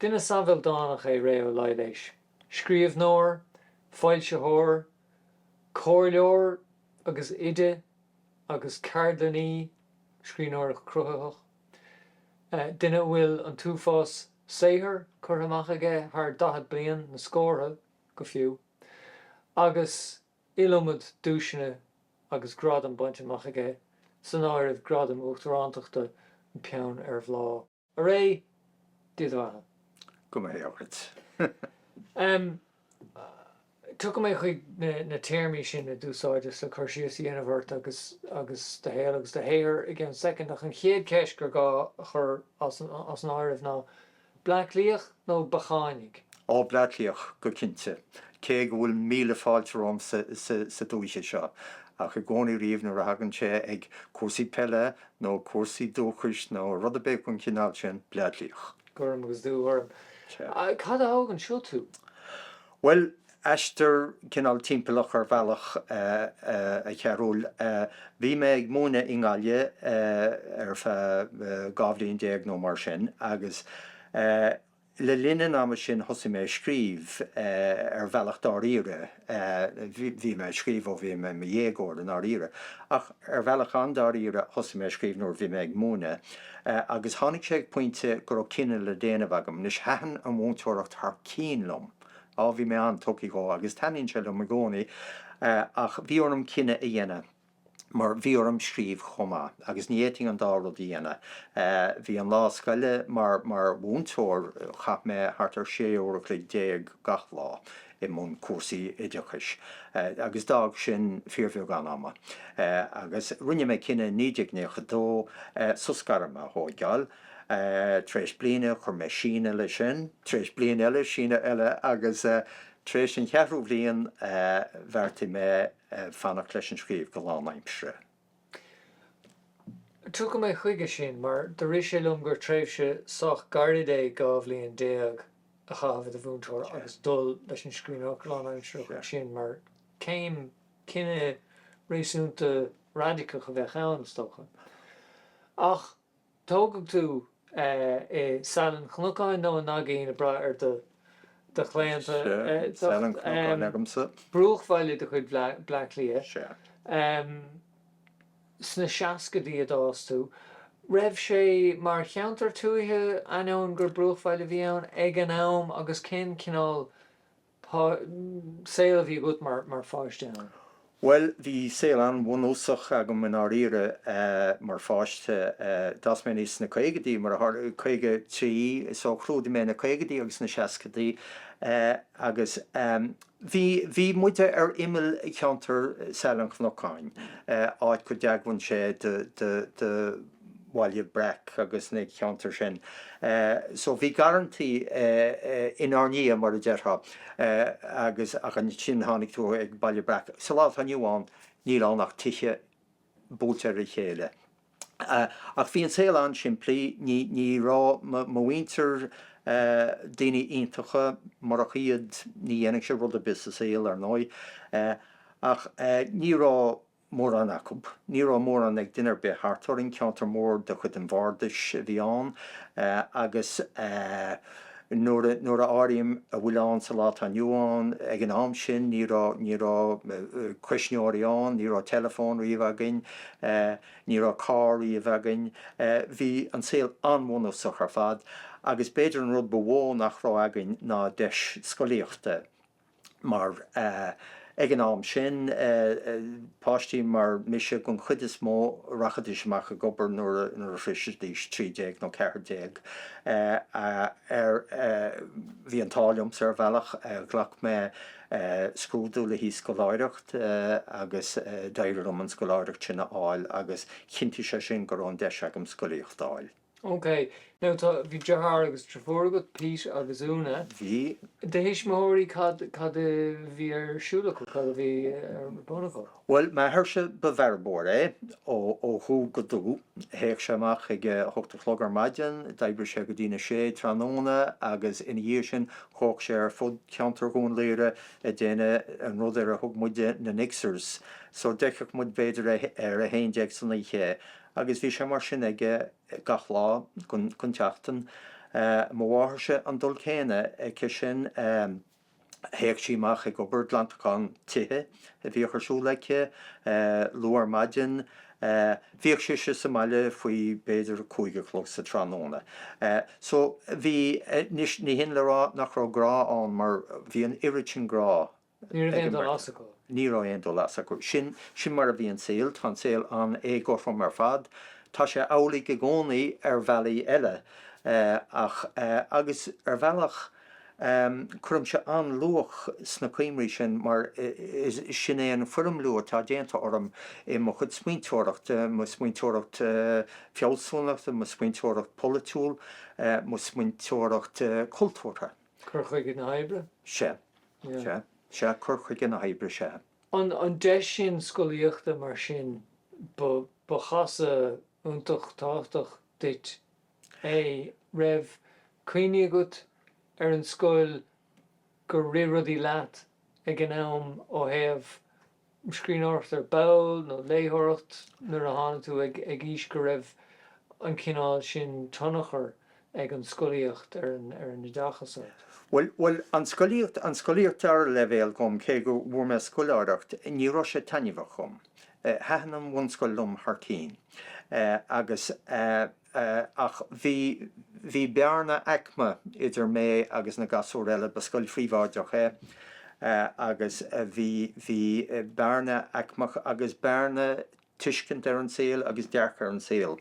Duine sách ildánach é Ré Ó Laighléis, scríbhneoir, foilsitheoir, comhairleoir agus oide agus ceardlannaí scríbhneoireachta cruthaithí, duine a bhfuil an t-uafás saothar curtha amach aige, thar 40 bliain, na scórtha go fiú. agus iliomad duaiseanna agus gradaim bainte amach aige, san áireamh Gradam Uachtaránachta An Peann ar Bhláth. A Ré, Dia do bheatha. Go mba hé dhuit. Ahem. Tiocfaidh mé chuig na téarmaí sin a d'úsáideas le cur síos a dhéanamh ort agus agus do shaol agus do shaothar i gceann soicind, ach an chéad cheist gur gá a chur as an áireamh ná, Bleá Cliathach nó Beacháineach? Ó, Bleá Cliathach go cinnte, cé go bhfuil míle fáilte romham sa dúiche seo, ach i gcónaí riamh nuair a thagann sé ag cúrsaí peile nó cúrsaí dúchais nó rud ar bith den chineál sin, Bleá Cliathach. Gorm agus dúghorm. Cad a thóg anseo tú? Bhuel, aistear cineál timpeallach ar bhealach, a Chearúil. Bhí mé ag múineadh i nGaillimh ar feadh dhá bhliain déag nó mar sin agus le linn an ama sin thosaigh mé a scríobh, ar bhealach dáiríre, bhí mé ag scríobh ó bhí mé i mo dhéagóir, i ndáiríre, ach. Ar bhealach an-dáiríre thosaigh mé a scríobh nuair a bhí mé ag múineadh agus tháinig sé ag pointe go raibh cinneadh le déanamh agam. Anois, thaitin an mhúinteoireacht thar cionn liom, á, bhí mé an-tugtha dhó agus taitníonn sé liom i gcónaí ach bhí orm cinneadh a dhéanamh mar bhí orm scríobh chomh maith agus ní fhéadfainn an dá rud a dhéanamh. Bhí an lá scoile mar mhúinteoir, chaith mé thart ar 16 uair an chloig gach lá i mbun cúrsaí oideachais agus d'fhág sin fíorbheagán ama agus rinne mé cinneadh i 1992 sos gairme a thóigeáil. Tar éis bliana chuir mé síneadh leis sin, tar éis bliain eile síneadh eile agus tar éis an cheathrú bhliain bheartaigh mé fanacht leis an scríobh go lánaimseartha. Tiocfaidh mé chuige sin, mar do rith sé liom gur tréimhse sách gairid é dhá bhliain déag a chaitheamh i do mhúinteoir agus dul leis an scríbhneoireacht lánaimsearach ansin mar chéim. Cinneadh réasúnta raidiceach a bheadh ann, is dócha, ach. Tógadh tú i Saileán an Chnocáin nó An Naigín, ag brath ar do chlaonta. Saileán an Chnocáin agamsa. Bruachbhaile de chuid Bhleá Cliath. Sna seascaidí a d'fhás tú. Raibh sé mar cheantar tuaithe ainneoin gur bruachbhaile a bhí ann ag an am agus cén cineál Cén cineál saoil a bhí agat mar pháiste ann? Bhuel, bhí saol an-bhunúsach agam i ndáiríre mar pháiste. D'fhás mé aníos sna caogaidí, mar a tharla, caoga trí, so chlúdaigh mé na caogaidí agus na seascaidí agus bhí, bhí muid ar imeall cheantar Shaile an Chnocáin, áit go dtagann sé do, do, do, Bhaile Breac agus na ceantair sin. So bhí garrantaí inár ndiaidh, mar a déarfá, agus ach ansin tháinig tú ag Baile Breac. Sa lá atá inniu ann, níl ann ach tithe buailte ar a chéile. Ach bhí an saol an-simplí, ní, ní raibh mo, mo mhuintir, daoine iontacha, murach iad ní dhéanfainnse rud ar bith sa saol, ar ndóigh, ach ní raibh, mórán acu. Ní raibh mórán ag duine ar bith thart orainn, ceantar mór de chuid an Bhardais a bhí ann agus nuair a áirím a bhfuil ann sa lá atá inniu ann, ag an am sin ní raibh, ní raibh cuisneoirí ann, ní raibh teileafón riamh againn, ní raibh carr riamh againn, bhí an saol an-bhunúsach ar fad agus b'fhéidir an rud ba mhó nach raibh againn ná deis scolaíochta. mar ag an am sin, páistí mar mise den chuid is mó, rachaidís amach ag obair nuair a shroisfidís trí déag nó ceathair déag. Bhí an t-ádh liomsa, ar bhealach, ghlac mé scrúdú le haghaidh scoláireacht agus d'éirigh liom an scoláireacht sin a fháil agus chinntigh sé sin go raibh an deis agam scolaíocht a fháil. OK. Now tá, bhí deartháir agus drifiúr agat, Pete agus Úna. Bhí. Do thuismitheoirí, cad, cad a bhí ar siúl acu, cad a bhí ar bun acu? Bhuel, m'athairse, ba bhearbóir é ó, ó dhubh go dubh. Théadh sé amach ag a hocht a chlog ar maidin, d'oibríodh sé go dtí na sé tráthnóna agus ina dhiaidh sin chuaigh sé ar fud cheantar Dhún Laoghaire ag déanamh an rud ar a thug muide na 'nixers' So d'fheicfeadh muid b'fhéidir é ar a haon déag san oíche. Agus bhí sé mar sin aige gach lá gon tseachtain. Mo mháthairse an dul céanna aici sin. Théadh sí amach ag obair, glantachán tithe a bhíodh ar siúl aici, luath ar maidin. Bhíodh sise sa mbaile faoi b'fhéidir a cúig a chlog sa tráthnóna. So, bhí, anois ní hin le rá nach raibh grá ann mar bhí an oiread sin grá ann. Ní raibh aon dul as acu. Ní raibh aon dul as acu. Sin, sin mar a bhí an saol. Tá an saol an-éagothrom ar fad. Tá sé amhlaidh i gcónaí ar bhealaí eile. Ach, agus ar bhealach, cuirimse an-luach sna cuimhní sin mar is, sin é an foirmliú atá déanta orm i mo chuid smaointeoireacht, mo smaointeoireacht fealsúnachta, mo smaointeoireacht pholaitiúil, mo smaointeoireacht chultúrtha. Cur chuige na hoibre? Sea. Sea, sea, cur chuige na hoibre, sea. An deis sin scolaíochta mar sin, ba chasadh iontach tábhachtach duit é. An raibh cuimhní agat ar an scoil gur rith rudaí leat ag an am ó thaobh scríbhneoireacht ar ball nó léitheoireacht nuair a tháinig tú ag aois go raibh an cineál sin tionchar ag an scolaíocht ar an oideachas ort? Bhuel, bhuel, an scolaíocht, an scolaíocht dara leibhéal dhom, cé go bhfuair mé scoláireacht, ní raibh sé taitneamhach dhom. Thaitin an bhunscoil liom thar cinn agus eh. Ach bhí, bhí bearna aicme idir mé agus na gasúir eile, ba scoil phríobháideach é, agus bhí, bhí bearna aicmeach agus bearna tuiscint ar an saol agus dearcadh ar an saol,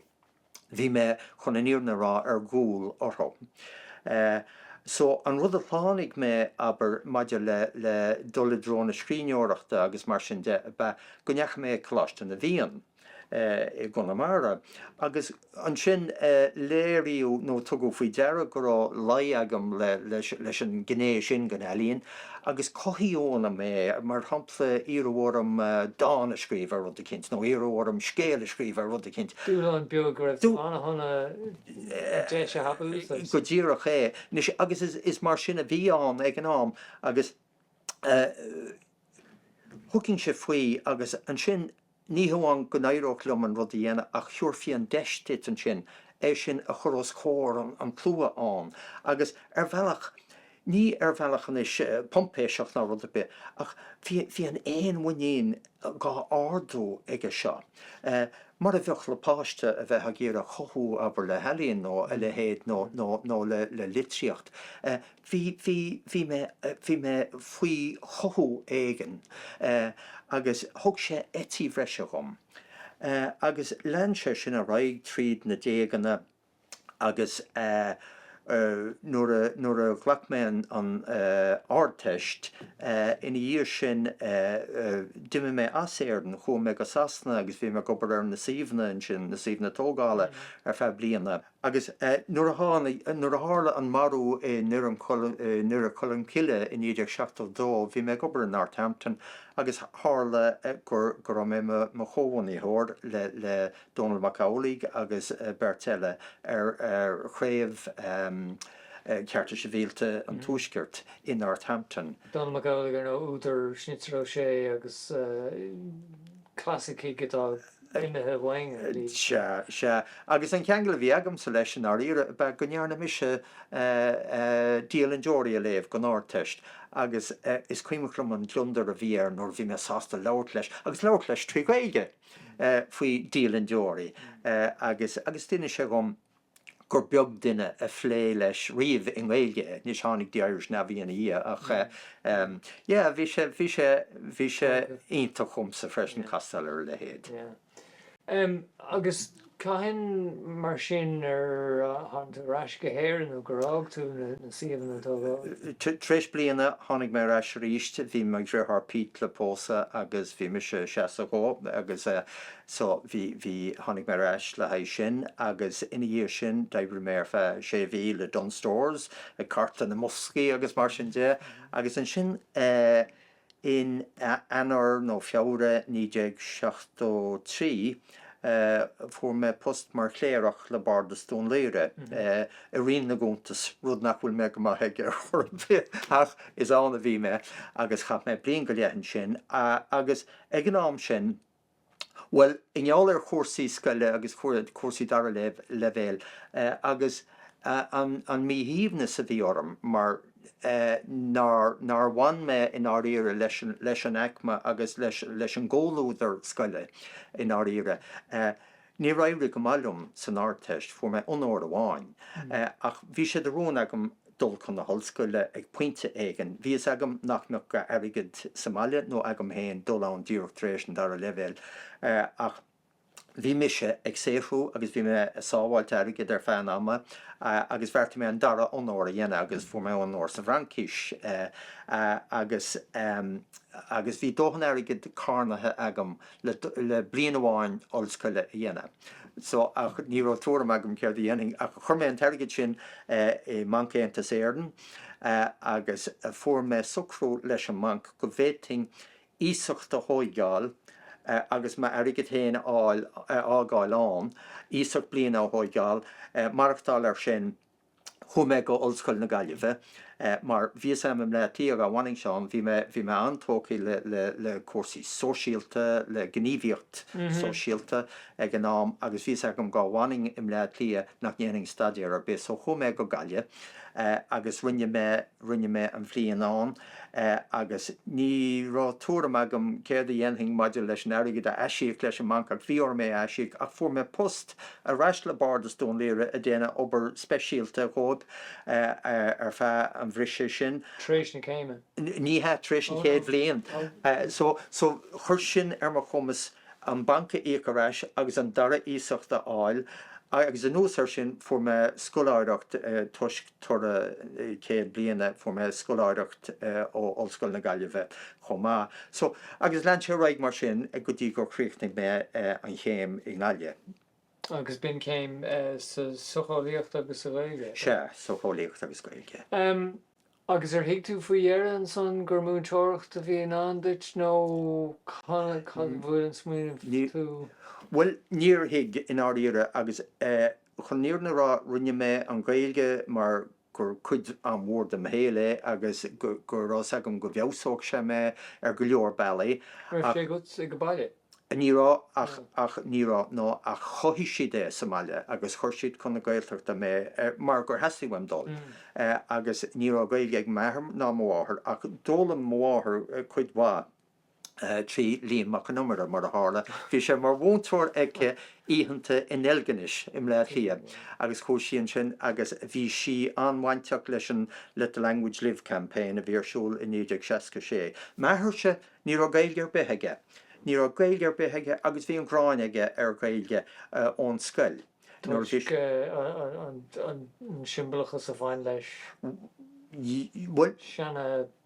bhí mé, chun an fhírinne a rá, ar gcúl orthu. So, an rud a shlánaigh mé, abair, maidir le, le dul i dtreo na scríbhneoireachta agus mar sin de, ab é go ndeachaigh mé ag Coláiste na bhFiann, i gConamara. Agus ansin léiríodh nó tugadh faoi deara go raibh luí agam leis an ngné sin den ealaín agus cothaíodh ionam é, mar shampla iarradh orm dán a scríobh ar rud eicínt nó iarradh orm scéal a scríobh ar rud eicínt. Dúshlán beag go raibh tú an-shona an deis a thapú? Go díreach é. Agus is mar sin a bhí ann ag an am agus thugainn-se faoi agus ansin Ní hamháin go n-éireodh liom an rud a dhéanamh ach thiúrfaí an deis duit ansin é sin a chur os comhair an tslua, agus ar bhealach, ní ar bhealach anois poimpéiseach ná rud ar bith, ach bhí an fhéinmhuinín dhá ardú aige seo, mar a bheadh le páiste a bheith ag iarraidh a chothú abair le healaín nó a leithéid nó le litríocht. bhí, bhí, bhí mé, bhí mé faoi chothú éigin agus thug sé eití breise dhom. Agus lean sé sin ar aghaidh tríd na déaganna agus nuair a, nuair a ghlac mé an Ardteist ina dhiaidh sin d'imigh mé as Éirinn, chuaigh mé go Sasana agus bhí mé ag obair ar na suíomhanna ansin, na suíomhanna tógála ar feadh bliana. Agus nuair a tháinig, nuair a tharla an marú i nDoire Cholm Cille i 1972, bhí mé ag obair i Northampton agus tharla go raibh mé i mo chomhbhunaitheoir le Dónall Mac Amhlaigh agus beirt eile ar Chraobh Chearta Sibhialta an Tuaiscirt i Northampton. Dónall Mac Amhlaigh, ar ndóigh, údar Schnitzer Ó Sé agus clasaicigh. Imithe uainn, ar ndóigh. Sea, sea. Agus an ceangal a bhí agamsa leis, i ndáiríre, ab ea go ndearna mise Dialann Deoraí a léamh don Ardteist agus is cuimhin liom an gliondar a bhí air nuair a bhí mé sásta labhairt leis, agus labhairt leis trí Ghaeilge! faoi Dialann Deoraí agus d'inis sé dhom, gur beag duine a phléigh leis riamh i nGaeilge anois tháinig The Irish Navvy ina dhiaidh, ach em yeah bhí sé, bhí sé, bhí sé iontach dhomsa freisin castáil ar a leithéid. Yeah. Em agus cathain mar sin ar tháinig tú ar ais go hÉirinn nó gur fhág tú na suíomhanna tógála? Tar éis bliana tháinig mé ar ais arís, bhí mo dheartháir Pete le pósadh agus bhí mise 62 agus eh So, bhí, bhí, tháinig mé ar ais le haghaidh sin agus ina dhiaidh sin d'oibrigh mé ar feadh sé mhí le Dunnes Stores ag cartadh na mboscaí agus mar sin de agus ansin eh in Eanáir nó Feabhra 1973 eh fuair mé post mar chléireach le Bardas Dún Laoghaire eh i Roinn na gCuntas, rud nach bhfuil mé go maith aige ar chor ar bith ach is ann a bhí mé agus chaith mé bliain go leith ansin agus ag an am sin, Bhuel, i ngeall ar chúrsaí scoile agus cúrsaí dara leibhéal agus an míshuaimhneas a bhí orm mar nár bhain mé i ndáiríre leis an aicme agus leis an gcomhluadar scoile i ndáiríre, Níor éirigh go maith liom san Ardteist, fuair mé onóir amháin, ach bhí sé de rún agam dul chun na hollscoile ag pointe éigin. Bhí fhios agam nach mbeadh a dhóthain airgid sa mbaile nó agam féin dul ann díreach tar éis an dara leibhéal, ach bhí mise ag saothrú agus bhí mé ag sábháilt airgid ar feadh an ama agus bheartaigh mé an dara onóir a dhéanamh agus fuair mé onóir sa bhFraincis agus agus bhí dóthain airgid carnaithe agam le bliain amháin ollscoile a dhéanamh. So, ach ní raibh tuairim agam céard a dhéanfainn ach chuir mé an t-airgead sin i mBanc Aontas Éireann agus fuair mé socrú leis an mbanc go bhféadfainn iasacht a thóigeáil agus m'airgead féin a fháil, a fhágáil ann, iasacht bliana a thóigeáil, maireachtáil air sin. Chuaigh mé go Ollscoil na Gaillimhe mar bhí a fhios 'am i mBleá Cliath dhá bhfanainnse ann. Bhí mé bhí mé an-tógthaí le le le cúrsaí sóisialta, le gníomhaíocht sóisialta ag an am agus bhí a fhios agam dhá bhfanainn i mBleá Cliath nach ndéanfainn staidéar ar bith so chuaigh mé go Gaillimh agus rinne mé Rinne mé an bhliain ann agus ní raibh tuairim agam céard a dhéanfainn maidir leis an airgead a aisíoc leis an mbanc ach bhí orm é a aisíoc ach fuair mé post ar ais le bardas Dún Laoghaire ag déanamh obair speisialta dhóibh ar feadh an bhriseadh sin. Tar éis na céime? Ní hea, tar éis an chéad bhliain. So chuir sin ar mo chumas. an banc a íoc ar ais agus an dara iasacht a fháil agus anuas ar sin fuair mé scoláireacht toisc toradh céad bliana, fuair mé scoláireacht ó Ollscoil na Gaillimhe chomh maith. So, agus lean sé ar aghaidh mar sin go dtí gur chríochnaigh mé an chéim i nGaillimh. Agus b'in céim sa tsocheolaíocht agus sa Ghaeilge? Sea, socheolaíocht agus Gaeilge. Agus ar thuig tú faoi dheireadh ansan gur múinteoireacht a bhí i ndán duit nó cathain a bhuail an smaoineamh tú? Bhuel, níor thuig, i ndáiríre, agus chun an fhírinne a rá, rinne mé an Ghaeilge mar gur cuid an-mhór de mo shaol é agus go raibh 's agam go bhfeabhsódh sé mé ar go leor bealaí. Raibh sé agat ag an baile? Ní raibh, ach, ní raibh, nó ach chothaigh siad é sa mbaile agus chuir siad chun na Gaeltachta mé mar gur theastaigh uaim dul. Agus ní raibh Gaeilge ag m'athair ná mo mháthair ach d'fhoghlaim mo mháthair cuid mhaith trí Liam Mac Con Iomaire, mar a tharla, bhí sé mar mhúinteoir aici oícheanta i nDeilginis i mBleá Cliath agus chuaigh sí ansin agus bhí sí an-bhainteach leis an Let the Language Live Campaign a bhí ar siúl i 1966. M'athairse! Ní raibh Gaeilge ar bith aige. Ní raibh Gaeilge ar bith aige agus bhí an ghráin aige ar Ghaeilge ón scoil. Nuair a bhí. Toisc an siombalachas a bhain leis. Bhuel. Sean.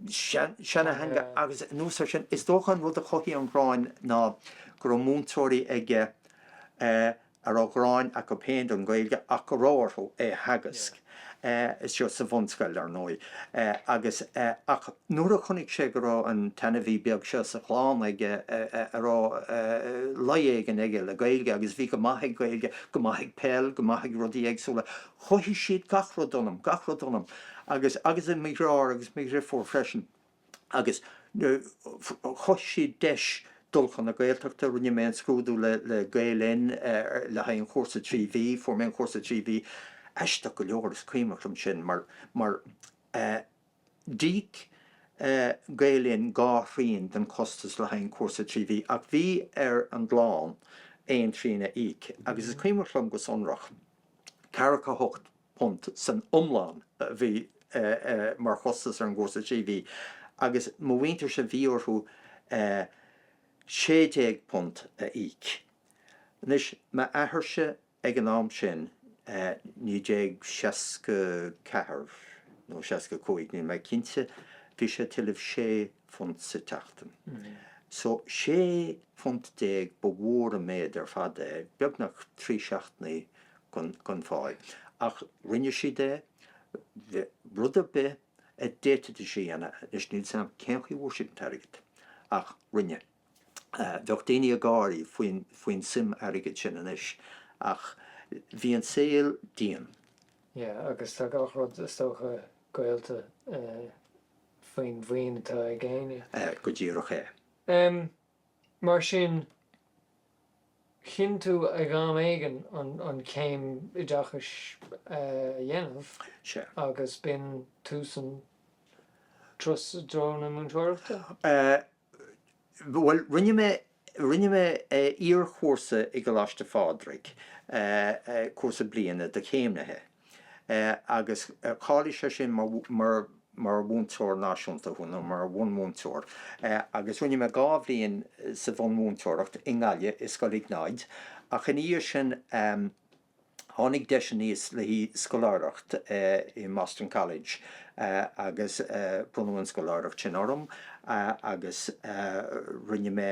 Seanteanga agus anuas ar sin, is dócha an rud a chothaigh an ghráin ná go raibh múinteoirí aige a. a raibh gráin acu féin don Ghaeilge ach go raibh orthu é a theagasc, istigh sa bhunscoil, ar ndóigh, agus, ach nuair a chonaic sé go raibh an t-ainmhí beag seo sa chlann aige a raibh luí éigin aige le Gaeilge agus a bhí go maith ag Gaeilge, go maith ag peil, go maith ag rudaí éagsúla, chothaigh siad gach rud ionam, gach rud ionam, agus, agus i mo dheartháir agus mo dheirfiúr freisin. agus chothaigh siad deis dul chun na Gaeltachta. Rinne mé an scrúdú le Gael Linn le haghaidh an chúrsa trí mhí, fuair mé an cúrsa trí mhí, aisteach go leor is cuimhneach liom sin mar d'íoc Gael Linn dhá thrian den chostas le haghaidh an chúrsa trí mhí ach bhí ar an gclann aon trian a íoc agus is cuimhneach liom go sonrach Ceathracha hocht bpunt san iomlán a bhí mar chostas ar an gcúrsa trí mhí agus mo mhuintirse bhí orthu sé déag punt a íoc. Anois, m'athairse ag an am sin, naoi déag seasca ceathair nó seasca cúig, níl mé cinnte, bhí sé ag tuilleamh sé, phunt sa tseachtain. So, sé phunt déag, ba mhór an méid ar fad é, beagnach trí seachtainí gan phá. Ach rinne siad é, rud ar bith a d'fhéadfaidís a dhéanamh, anois níl 's a'm cén chaoi a bhfuair siad an t-airgead, ach rinne siad. Bheadh daoine ag gáirí faoin suim airgid sin anois, ach bhí an saol dian. Yeah, agus tá gach rud, is dócha, gaolta. faoin mhaoin atá ag éinne. go díreach é. Mar sin, chinn tú ag am éigin an céim oideachais a dhéanamh agus b'in tú sa treo, i dtreo na múinteoireachta? Bhuel, rinne mé, rinne mé iarchúrsa i gColáiste Phádraig, cúrsa bliana do chéimnithe, agus cháiligh sé sin mar, mar, mar mhúinteoir náisiúnta thú, nó mar bhunmhúinteoir, agus rinne mé dhá bhliain sa bhunmhúinteoireacht i nGaillimh, i Scoil Iognáid, ach ina dhiaidh sin, Tháinig deis aníos le haghaidh scoláireacht i mBoston College agus bronnadh an scoláireacht sin orm agus rinne mé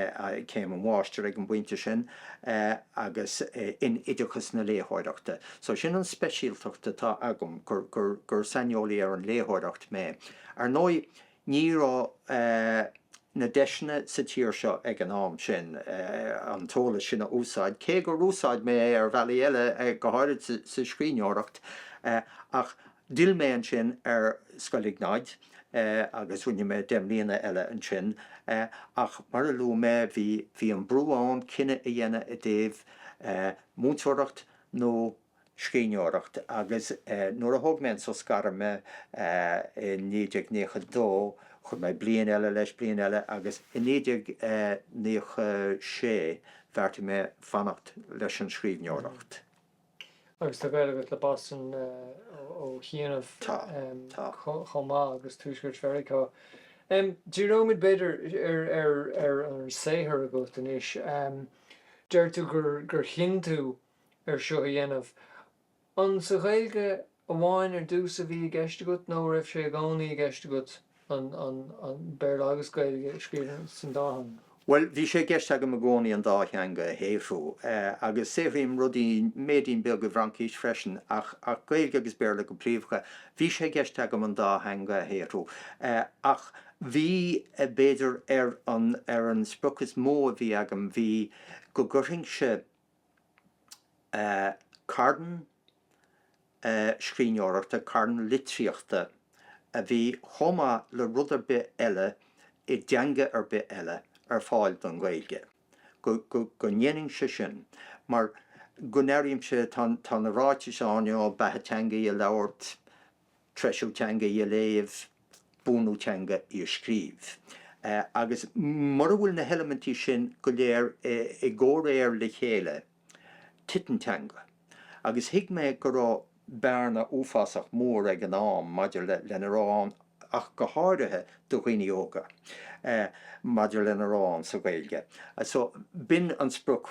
céim an mháistir ag an bpointe sin agus in oideachas na léitheoireachta. So sin an speisialtacht atá agam, gur saineolaí ar an léitheoireacht mé. Ar ndóigh, Ní raibh na deiseanna sa tír seo ag an am sin an t-eolas sin a úsáid, cé gur úsáid mé é ar bhealaí eile, go háirid sa scríbhneoireacht. Ach d'fhill mé ansin ar Scoil Iognáid agus rinne mé deich mbliana eile ansin. Ach mar a luaigh mé, bhí an brú ann cinneadh a dhéanamh i dtaobh múinteoireacht nó. scríbhneoireacht agus nuair a thóg mé an sos gairme i 1992 chuir mé bliain eile leis, bliain eile agus i 1996 bheartaigh mé fanacht leis an scríbhneoireacht. Agus tá gaol agat le Boston ó shin chomh maith agus tuaisceart Mheiriceá. Díreoimid b'fhéidir ar an saothar agat anois. Deir tú gur chinn tú air seo a dhéanamh. An sa Ghaeilge amháin ar dtús a bhí i gceist agat nó raibh sé i gcónaí i gceist agat Béarla agus Gaeilge a scríobh san dá theanga? Bhuel, bhí sé i gceist agam i gcónaí an dá theanga a shaothrú, agus saothraím rudaí, méidín beag, i bhFraincis freisin, ach Gaeilge agus Béarla go príomhdha. Bhí sé i gceist agam an dá theanga a shaothrú, ach bhí, b'fhéidir, ar an sprioc is mó a bhí agam, bhí, go gcuirfinnse, carn scríbhneoireachta, carn litríochta a bhí chomh maith le rud ar bith eile i dteanga ar bith eile ar fáil don Ghaeilge, go ndéanfainnse sin mar go n-airímse, tá na ráitis ann, you know, beatha teanga í a labhairt, treisiú teanga í a léamh, buanú teanga í a scríobh. Agus mura bhfuil na heilimintí sin go léir i gcomhréir le chéile, titeann teanga. Agus thuig mé go raibh bearna uafásach mór ag an am maidir lena raibh ann, ach go háirithe do dhaoine óga, maidir lena raibh ann sa Ghaeilge. So, b'in an sprioc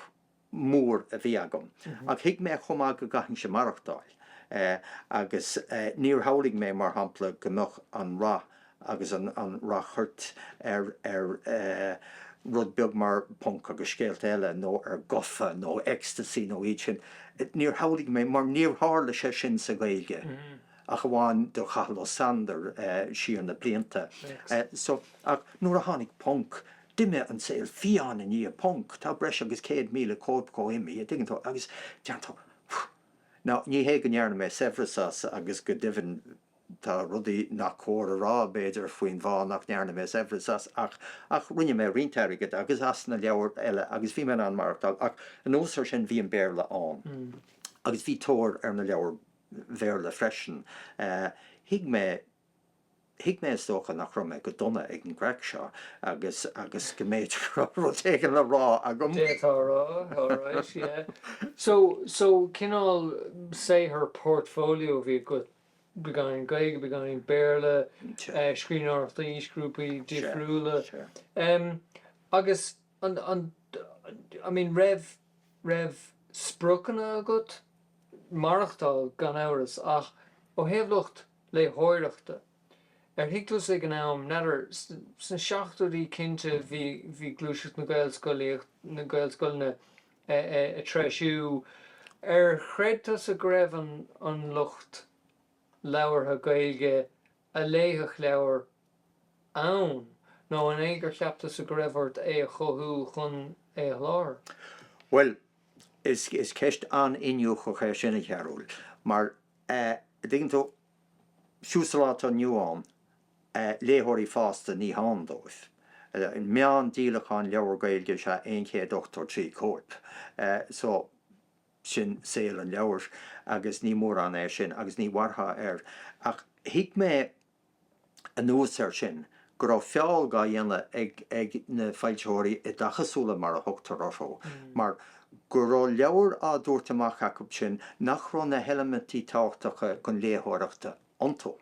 mór a bhí agam, ach thuig mé chomh maith go gcaithfinnse maireachtáil, agus níor shamhlaigh mé, mar shampla, go mbeadh an rath agus an ráchairt ar rud beag mar Ponc agus Scéalta Eile, nó ar Gafa nó Ecstasy nó iad sin, níor shamhlaigh mé, mar níor tharla sé sin sa Ghaeilge, ach amháin do Chathal Ó Sandair siar na blianta. So ach nuair a tháinig Ponc, D'imigh an saol fiáin i ndiaidh Ponc, tá breis agus 100,000 cóip de imithe, a dtuigeann tú, agus déanann tú Now, ní hé go ndearna mé saibhreas as, agus go deimhin tá rudaí nach cóir a rá, b'fhéidir, faoin bhfáth nach ndearna mé saibhreas as, ach, ach rinne mé roinnt airgid, agus as na leabhair eile, agus bhí mé in ann maireachtáil, ach anuas ar sin, bhí an Béarla ann, agus bhí tóir ar na leabhair Bhéarla freisin. Thuig mé. Thuig mé, is dócha, nach raibh mé go dona ag an gcraic seo agus agus go mb'fhéidir go raibh rud éigin le rá agam. D'fhéadfá a rá, alright, yeah. So, so cineál saothar portfolio a bhí agat, beagáinín Gaeilge, beagáinín Béarla, scríbhneoireacht d'aoisghrúpaí difriúla. Agus an, an, I mean, raibh, raibh spriocanna agat? Maireachtáil, gan amhras, ach ó thaobh lucht. léitheoireachta. Ar thuig tusa ag an am, n'fheadar, sna seachtóidí cinnte bhí, bhí gluaiseacht na Gaelscolaíochta, na Gaelscoileanna a' treisiú, ar chreid tusa go raibh an, an lucht labhartha Gaeilge a léifeadh leabhair ann nó an é gur cheap tusa go raibh ort é a chothú chun é a sholáthar? Bhuel, is, is ceist an-iniúchach é sin, a Chearúil, mar a' dtuigeann tú, fiú sa lá atá inniu ann, léitheoirí fásta ní hann dóibh. Meán díolachán leabhar Gaeilge is ea aon chéad ochtó trí cóip, so sin saol an leabhair agus ní mórán é sin agus ní mhairfeá air. Ach thuig mé anuas air sin, go raibh feall dhá dhéanamh ag na foilsitheoirí oideachasúla, mar a thugtar orthu, mar go raibh leabhair á dtabhairt amach acu sin nach raibh na heilimintí tábhachtacha chun léitheoireachta iontu,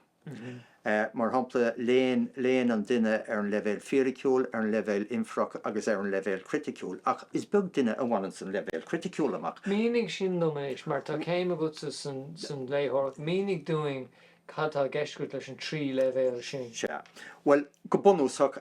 mar shampla, léann an duine ar an leibhéal fíriciúil, ar an leibhéal infeireach agus ar an leibhéal criticiúil, ach is beag duine a bhaineanns an leibhéal criticiúil amach. Mínigh sin dom anois, mar tá céim agatsa san léitheoireacht, mínigh dúinn Cad tá i gceist agat leis an trí leibhéal sin? Sea. Bhuel, go bunúsach,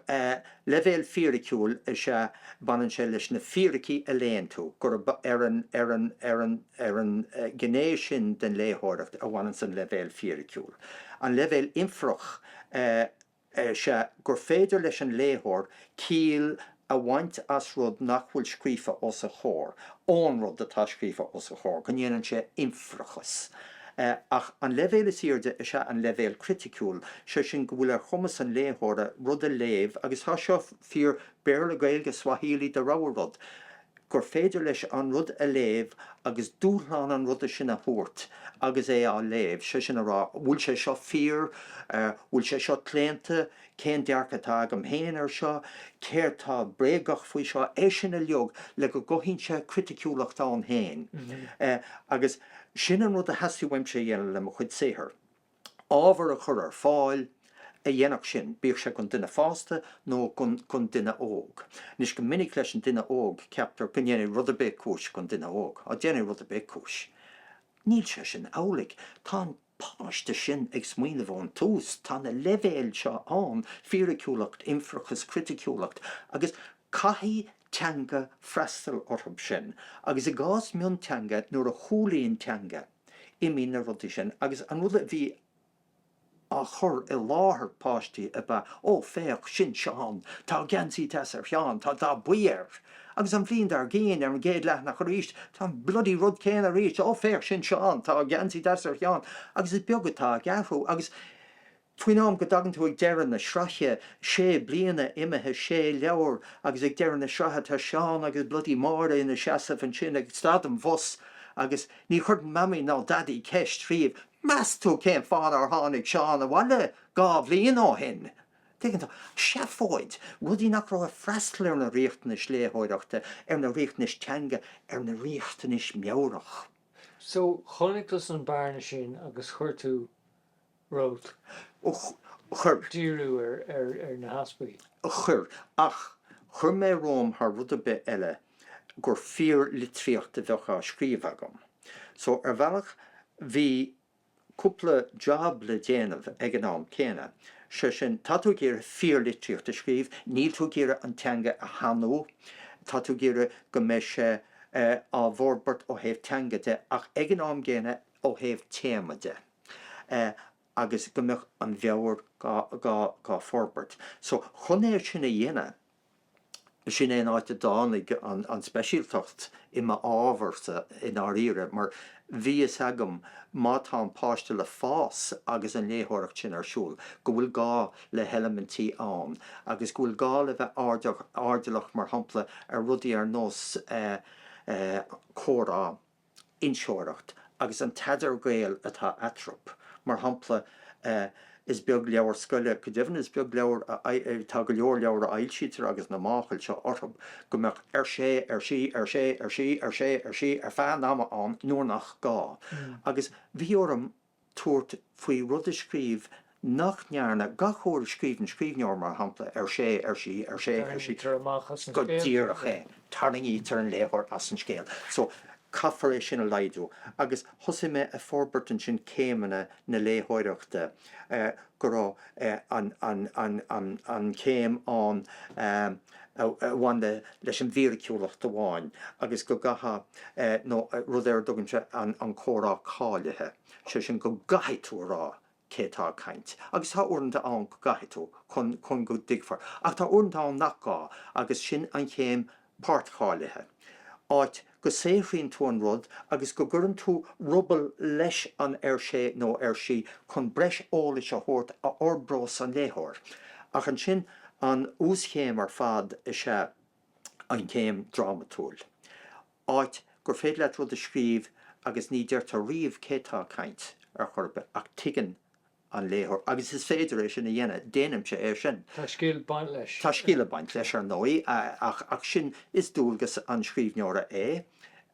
leibhéal fíriciúil is ea, baineann sé leis na fíricí a léann tú, gurb ar an, ar an, ar an, ar an ghné sin den léitheoireacht a bhaineanns an leibhéal fíriciúil. An leibhéal infeireach, eh, is ea gur féidir leis an léitheoir ciall a bhaint as rud nach bhfuil scríofa os a chomhair, ón rud atá scríofa os a chomhair, go ndéanann sé infeireachas. Ach an leibhéal is airde is ea an leibhéal criticiúil, sé sin, go bhfuil ar chumas an léitheora rud a léamh, agus tá seo fíor Béarla, Gaeilge, Swahili, do rogha rud, gur féidir leis an rud a léamh agus dúshlán an ruda sin a thabhairt agus é á léamh, sé sin a rá, an bhfuil sé seo fíor, an bhfuil sé seo claonta, cén dearcadh atá agam héin air seo, céard tá bréagach faoi seo, é sin uiliog le go gcothaíonn sé criticiúlacht ann héin. Agus sin an rud a theastaigh uaimse a dhéanamh le mo chuid saothair. ábhar a chur ar fáil a dhéanfadh sin, bíodh sé gon duine fásta nó gon duine óg. Anois, go minic leis an duine óg ceaptar go ndéanfaidh rud ar bith cúis gon duine óg. Á, déanfaidh rud ar bith cúis. Níl sé sin amhlaidh. Tá an páiste sin ag smaoineamh ón tús, tá na leibhéil seo ann, fíriciúlacht, infeireachas, criticiúlacht, agus caithfidh teanga freastal orthu sin, agus i gcás mionteanga, nuair a chúlaíonn teanga, Imíonn na rudaí sin agus an rud a bhí á chur i láthair páistí ab ea, 'Ó, féach, sin Seán. Tá geansaí deas ar Sheán, tá dath buí air. Agus an bhliain dár gcion, ar an gcéad leathanach arís, tá bloody rud céanna arís, 'Ó, féach, sin Seán, tá geansaí deas ar Sheán. Agus is beag atá ag athrú. Agus. Faoin am go dtagann tú ag deireadh na sraithe, sé bliana imithe, sé leabhar, agus ag deireadh na sraithe tá Seán agus bloody Máire ina seasamh ansin ag stad an bhus agus ní chuireann Mamaí ná Daidí ceist riamh, Meas tú cén fáth nár tháinig Seán abhaile dhá bhliain ó shin? Tuigeann tú? Seafóid! Rudaí nach raibh ag freastal ar na riachtanais léitheoireachta, ar na riachtanais teanga, ar na riachtanais meabhrach. So, chonaic tusa an bearna sin agus chuir tú. Rud a chuir. díriú ar na heaspaí. a chuir. Ach chuir mé romham thar rud ar bith eile gur fíorlitríocht a bheadh á scríobh agam. So, ar bhealach, bhí cúpla jab le déanamh ag an am céanna, sé sin, tá tú ag iarraidh fíorlitríocht a scríobh, níl tú ag iarraidh an teanga a shanú, tá tú ag iarraidh go mbeidh sé á bhforbairt ó thaobh teanga de, ach ag an am gcéanna ó thaobh téama de. agus go mbeadh an mheabhair dhá forbairt. So, chun é sin a dhéanamh, sin é an áit a dtáinig an speisialtacht i m'ábharsa i ndáiríre, mar bhí a fhios agam, má tá an páiste le fás agus an léitheoireacht sin ar siúl, go bhfuil gá le heilimintí ann agus go bhfuil gá le bheith airdeallach, mar shampla, ar rudaí ar nós comhrá. inseoireacht agus an t-idirghaol atá eatarthub. Mar shampla, is beag leabhar scoile, go deimhin is beag leabhar a, tá go leor leabhar a fhoilsítear agus na máchailí seo orthub, go mbeadh ar sé, ar sí, ar sé, ar sí, ar sé, ar sí, ar feadh an ama ann nuair nach gá. Agus bhí orm tabhairt faoi rud a scríobh nach ndearna gach uair a scríobhann scríbhneoir, mar shampla, ar sé, ar sí, ar sé, ar sí, Tarraingítear amach as an go scéal, go díreach é, sin. tarraingítear an léitheoir as an scéal. So, caithfear é sin a laghdú. Agus thosaigh mé a forbairt ansin céimeanna na léitheoireachta. go raibh an chéim ann a bhain leis an bhfíriciúlacht amháin agus go gcaithfeadh, nó rud ar a dtugaimse an comhrá cáilithe, sé sin go gcaithfidh tú a rá cé atá ag caint, agus tá uaireanta ann go gcaithfidh tú, chun go dtuigfear, ach tá uaireanta ann nach gá agus sin an chéim páirtcháilithe, áit go saothraíonn tú an rud agus go gcuireann tú ruball leis an ar sé nó ar sí chun breis eolais a thabhairt a fhorbrós an léitheoir. Ach ansin, an uaschéim ar fad is ea an chéim drámatúil, áit gur féidir leat rud a scríobh agus ní deirtear riamh cé tá ag caint, ar chor ar bith, ach tuigeann an léitheoir, agus is féidir é sin a dhéanamh, déanaimse é sin. Tá scil ag baint leis. Tá scil ag baint leis, ar ndóigh, ach sin, is dualgas an scríbhneora é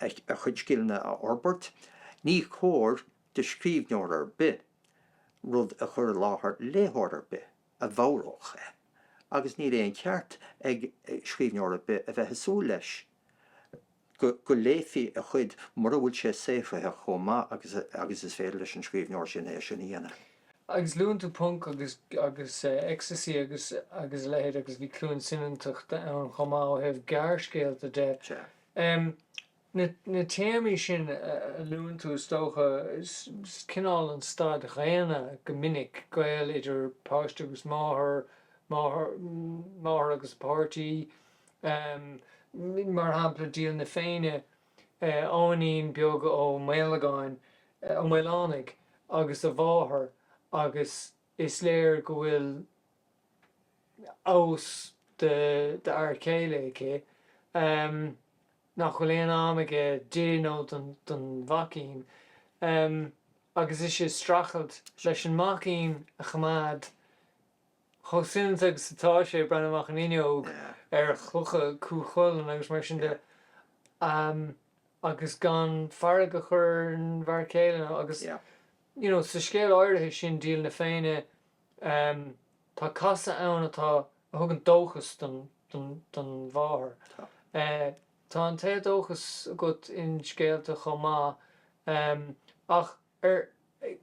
a chuid scileanna a fhorbairt. Ní cóir do scríbhneoir ar bith rud a chur i láthair léitheoir ar bith a bhodhródh é, agus níl aon cheart ag scríbhneoir ar bith a bheith ag súil leis go léifí a chuid, mura bhfuil sé saothraithe chomh maith agus is féidir leis an scríbhneoir sin é sin a dhéanamh. Agus luann tú punk agus agus ecstasy agus agus a leithéid agus bhí Cluain Soineantachta ann chomh maith ó thaobh gearrscéalta de. Na na téamaí sin a luann tú is dócha, is cineál an staid dhaonna go minic, gaol idir páiste agus máthair, máthair máthair agus a páirtí, Um mar shampla, Díol na Féinne, Eoghainín Beag Ó Maolagáin, Ó Maolánaigh, agus a mháthair agus is léir go bhfuil amhas d'fhear céile aici Um nach bhfuil aon am aige di nó don mhaicín Um agus ise ag streachailt leis an maicín a choimeád chomh soineanta agus atá sé, ag breathnú amach an fhuinneog, ar chlocha Chú Chulainn agus mar sin de, agus gan fearg a chur ar an bhfear céile nó agus, you know, sa scéal áirithe sin, Díol na Féinne, tá casadh ann atá, a thugann dóchas don, don, don mháthair. Tá an t-éadóchas agat in scéalta chomh maith ach. Ar,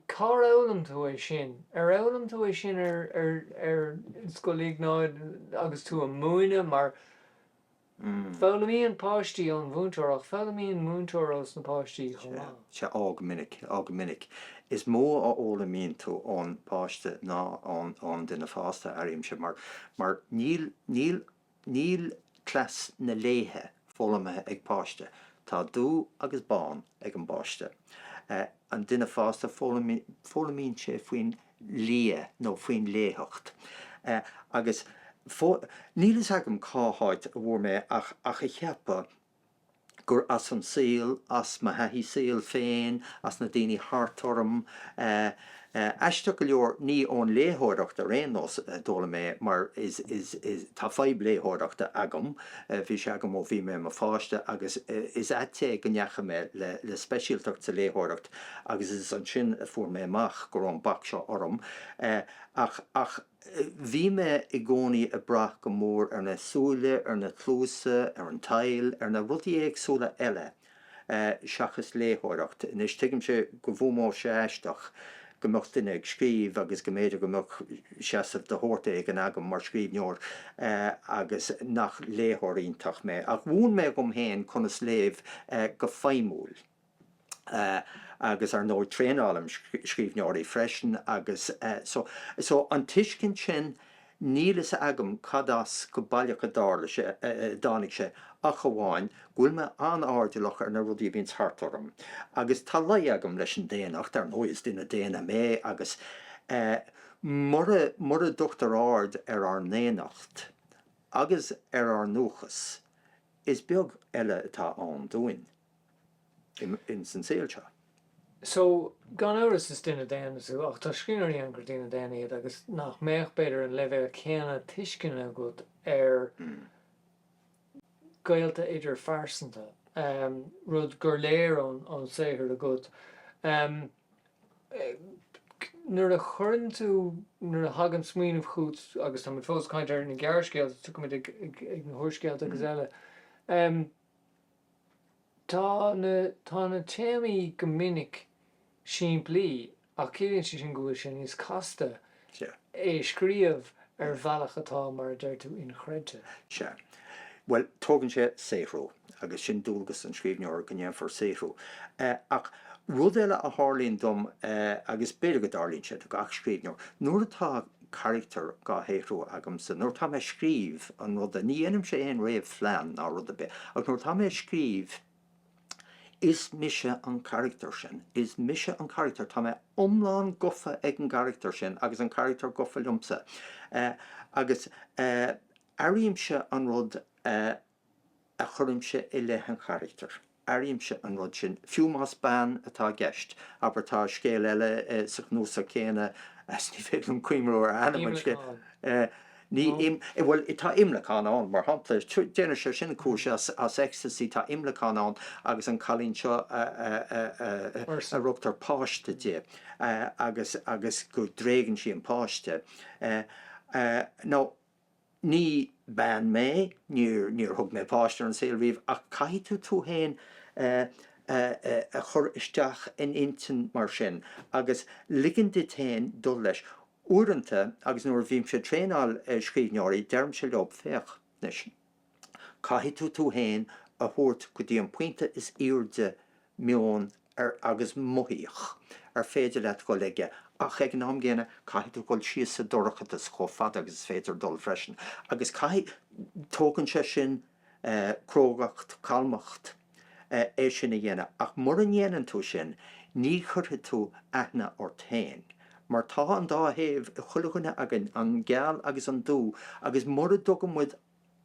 cár fhoghlaim tú é sin? Ar fhoghlaim tú é sin ar, ar, ar Scoil Iognáid agus tú a' múineadh mar foghlaimíonn páistí ón mhúinteoir ach foghlaimíonn múinteoir ós na páistí chomh maith. Sea, sea, á go minic, á go minic. Is mó a fhoghlaimíonn tú ón bpáiste ná ón, ón duine fásta, airímse, mar, mar níl, níl Níl cleas na léithe foghlamtha ag páiste. Tá dubh agus bán ag an bpáiste. An duine fásta, foghlaimíonn sé faoin liath nó faoin léitheacht. Agus níl fhios agam cá háit a bhfuair mé ach a cheapadh gur as an saol, as mo thaithí saoil féin, as na daoine thart orm, aisteach go leor ní ón léitheoireacht ar aon nós, a d'fhoghlaim mé mar is tá fadhb léitheoireachta agam, bhí sé agam ó bhí mé i mo pháiste agus is ait é go ndeachaigh mé le speisialtacht sa léitheoireacht agus is ansin a fuair mé amach go raibh an bac seo orm ach Bhí mé i gcónaí ag brath go mór ar na súile, ar na cluasa, ar an tadhall, ar na rudaí éagsúla eile seachas léitheoireacht. Anois, tuigimse go bhfuaimeodh sé aisteach go mbeadh duine ag scríobh agus go mb'fhéidir go mbeadh seasamh de shórt éigin agam mar scríbhneoir agus nach léitheoir iontach mé. Ach mhúin mé dhom féin conas léamh go feidhmiúil. agus ar ndóigh traenálaim scríbhneoirí freisin agus so, so an tuiscint sin, níl fhios agam cad as go baileach a dtarlaíonn sé, a dtáinig sé ach amháin go bhfuil mé an-airdeallach ar na rudaí a bhíonns thart orm agus tá lé agam leis an daonnacht, ar ndóigh is duine daonna mé agus mura, mura dtugtar aird ar ár ndaonnacht agus ar ár ndúchas is beag eile atá ann dúinn. in san saol seo. So, gan amhras is duine daonna tú, ach tá scríbhneoirí ann gur daoine daonna iad agus nach mbeadh, b'fhéidir, an leibhéal céanna tuisceana acu ar ghaolta idirphearsanta, rud gur léir ón saothar agat. Nuair a chuireann tú, nuair a thagann smaoineamh chugat, tá muid fós ag caint ar na gearrscéalta, tiocfaidh muid ag na húrscéalta agus eile, Tá na, tá na téamaí go minic simplí ach ciallaíonn sé sin go bhfuil sé níos casta é a scríobh ar bhealach atá, mar a deir tú, inchreidte. Sea. Bhuel, tógann sé saothrú agus sin dualgas an scríbhneora, go ndéanfar saothrú. Ach rud eile a tharlaíonn dom, agus b'fhéidir go dtarlaíonn sé do gach scríbhneoir, nuair atá carachtar dhá shaothrú agamsa. Nuair atá mé ag scríobh an ruda, ní dhéanaimse aon réamhphlean ná rud ar bith, ach nuair atá mé ag scríobh, is mise an carachtar sin. Is mise an carachtar. Tá mé iomlán gofa ag an gcarachtar sin agus an carachtar gofa liomsa. Agus airímse an rud a. a chuirimse i leith an charachtair. Airímse an rud sin, fiú más bean atá i gceist. Abair, tá scéal eile sa chnuasach céanna, agus ní féidir liom cuimhniú ar ainm an scéil. Imleacán? Ní, bhuel, tá imleacán ann, mar shampla. Déanfaidh sé sin cúis as ecstasy. Tá imleacán ann agus an cailín seo a rugadh páiste di agus go dtréigeann sí an páiste. Nó. Ní bean mé, níor thug mé páiste ar an saol riamh, ach caithfidh tú tú fhéin a chur isteach in intinn mar sin, agus ligean duit fhéin dul leis. Uaireanta, agus nuair a bhímse ag traenáil scríbhneoirí, deirimse leo, féach anois, Caithfidh tú tú fhéin a thabhairt go dtí an pointe is airde meoin agus mothaíocht ar féidir leat dhul aige ach ag an am gcéanna caithfidh tú dhul síos sa dorchadas chomh fada agus is féidir dhul freisin agus caithfidh, tógann sé sin crógacht, calmacht é sin a dhéanamh ach mura ndéanann tú sin ní chuirfidh tú aithne ort fhéin mar tá an dá thaobh ag chuile dhuine againn, an geal agus an dubh agus mura dtugann muid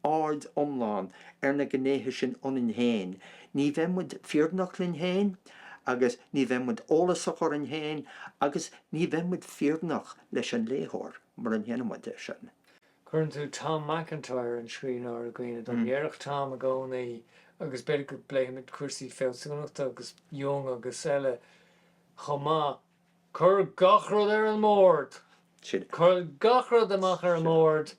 aird iomlán ar na gnéithe sin ionainn féin, ní bheidh muid fírinneach linn féin agus ní bheidh muid eolasach orainn féin agus ní bheidh muid fírinneach leis an léitheoir mura ndéanfaidh muid é sin. Cuireann tú Tom MacIntyre, an scríbhneoir, i gcuimhne dom. Dhéarfadh Tom i gcónaí, agus b'fhéidir go bpléifimid cúrsaí fealsúnachta agus Jung agus eile chomh maith, 'Cuir gach rud ar an mbord! Sin é. Cuir gach rud amach ar an mbord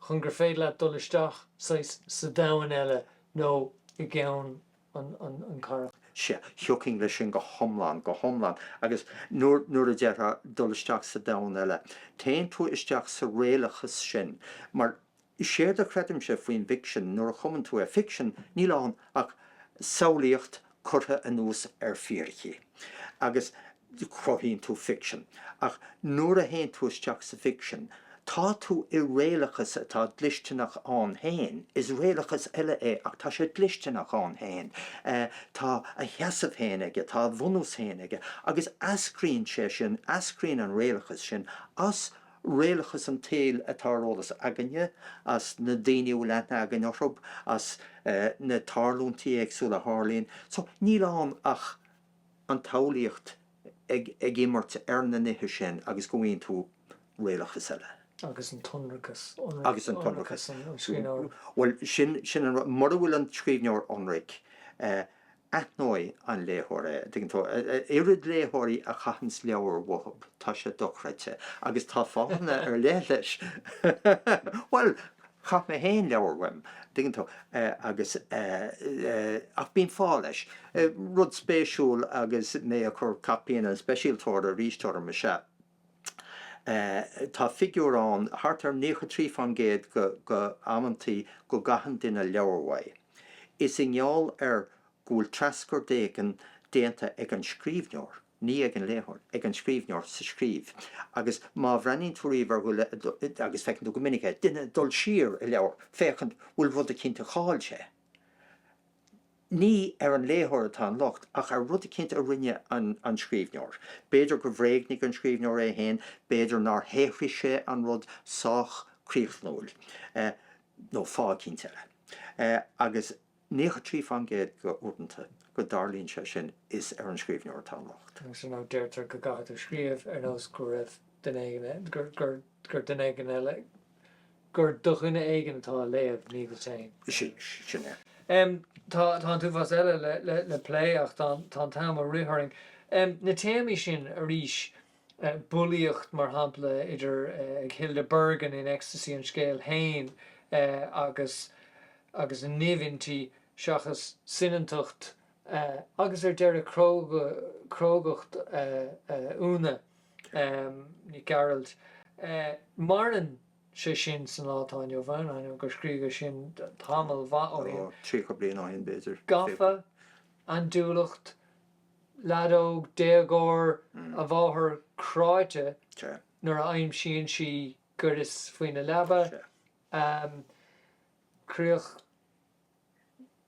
chun gur féidir leat dul isteach saghas sa domhan eile nó i gceann an charachtair. Sea, thiocfainn leis sin go hiomlán, go hiomlán. Agus nuair a déarfá dul isteach sa domhan eile, téann tú isteach sa réalachas sin, mar séard a chreidimse faoin bhficsean, nuair a chumann tú é, ficsean, níl ann ach samhlaíocht curtha anuas ar fíricí agus cruthaíonn tú ficsean. Ach nuair a théann tú isteach sa bhficsean, tá tú i réalachas atá dlisteanach ann féin, is réalachas eile é ach tá sé dlisteanach ann féin, tá a sheasamh féin aige, tá a bhunús féin aige, agus eascraíonn sé sin, eascraíonn an réalachas sin as réalachas an tsaoil atá ar eolas againne, as na daoine a bhfuil aithne againn orthu, as na tarlúintí éagsúla a tharlaíonn. So, níl ann ach an tsamhlaíocht ag imirt ar na nithe sin agus go bhfaigheann tú réalachas eile. Agus an t-ionracas, ionracas an scríbhneora? Bhuel, sin an rud. Mura bhfuil an scríbhneoir ionraic, Aithneoidh an léitheoir é. An dtuigeann tú, oiread léitheoirí a chaitheanns leabhar uathub, tá sé dochreidte, agus tá fáthanna ar leith leis. Bhuel, chaith mé fhéin leabhar uaim, an dtuigeann tú, agus ach bíonn fáth leis. Rud spéisiúil agus mé ag cur caipín an speisialtóra arís orm is ea. Tá figiúr ann thart ar 93% dho amanntaí go gcaitheann duine leabhar uaidh. Is i ngeall ar go bhfuil treascairt éigin déanta ag an scríbhneoir, ní ag an léitheoir, ag an scríbhneoir sa scríobh, agus má bhreathnaíonn tú riamh ar dhuine, agus feiceann tú go minic é, duine ag dul siar i leabhar, féachaint, bhfuil rud eicínt a chaill sé. Ní ar an léitheoir atá an locht ach ar rud eicínt a rinne an scríbhneoir. B'fhéidir gur bhréagnaigh an scríbhneoir é féin, b'fhéidir nár shaothraigh sé an rud sách críochnúil, nó fáth eicínt eile. Agus naocha trí fán gcéad dho uaireanta go dtarlaíonn sé sin, is ar an scríbhneoir atá an locht. Agus an rud deirtear go gcaithfidh tú scríobh ar nós go raibh duine éigin, gur duine éigin eile. gur do dhuine éigin atá a léamh, ní duit féin. Sin é. Tá an t-uafás eile le plé ach tá an t-am ag rith orainn. Na téamaí sin arís, bulaíocht, mar shampla, idir ag Hilda Bergin in Ecstasy an scéal féin agus agus an nimh inti seachas soineantacht agus ar deireadh crógacht Úna. Nic Gearailt. Maireann sé sin sa lá atá inniu ann, ainneoin gur scríobhadh sin tamall maith ó shin. Ó, tríocha bliain ó shin, b'fhéidir. Gafa, andúileacht, lead óg, déagóir, a mháthair cráite nuair a aimsíonn sí gaireas faoina leaba, críoch.